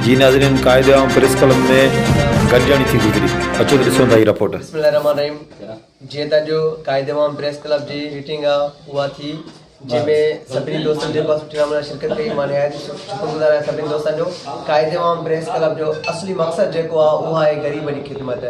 جي ناظرين قاعده عام پريس ڪلب ۾ گڏجاڻي ٿي گذري اچو ته ڏسون ٿا هي رپورٽ. بسم الله الرحمن الرحيم جيئن ته اڄ قائد عوام پريس ڪلب جي ميٽنگ آ اها ٿي جنهن ۾ سڀني دوستن جيڪو سٺي نموني سان شرڪت ڪئي مان نهايت شڪر گذار آهيان سڀني دوستن جو قائد عوام پريس ڪلب جو اصلي مقصد جيڪو آ اهو آهي غريبن جي خدمت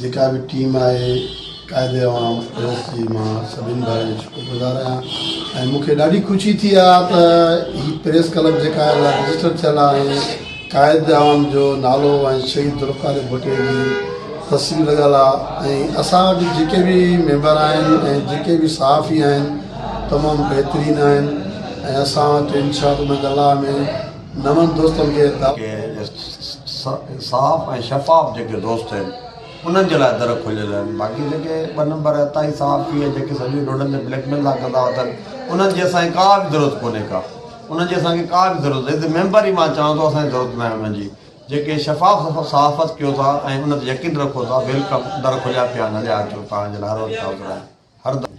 جيڪا به ٽيم آهي قائد عوام پريس جي مان سڀني ڀائرن جو شڪر گذار آهيان ۽ مون کي ڏاڍي خوشي ٿي آهي ته هي پريس ڪلب جيڪا رجسٽر ٿيل آهي قائد عوام جو نالو ۽ شهيد ذوالفقار ڀٽي جي تصوير لڳل آهي ۽ اسان وٽ جيڪي به ميمبر آهن ۽ جيڪي به صحافي آهن تمام بهترين آهن ۽ اسان وٽ انشاء الله ۾ نون دوستن کي ته. کي صاف ۽ شفاف جيڪي دوست آهن انهن جي لاء در کليل آهن باقي جيڪي ٻه نمبر عطائي صحافي ۽ جيڪي سڄو ڏينهن روڊن تي بليڪ ميل ٿا ڪندا اٿن انهن جي اسان کي ڪا به ضرورت ڪونهي ڪا انهن جي اسان کي ڪا به ضرورت ايز اي ميمبر ئي مان چوان ٿو اسان کي ضرورت ناهي انهن جي جيڪي شفاف صحافت ڪيو ٿا ۽ ان تي يقين رکو ٿا ويلڪم در کليا پيا آهن هليا اچو توهان جي لاء هر وقت حاضر آهيون هر دم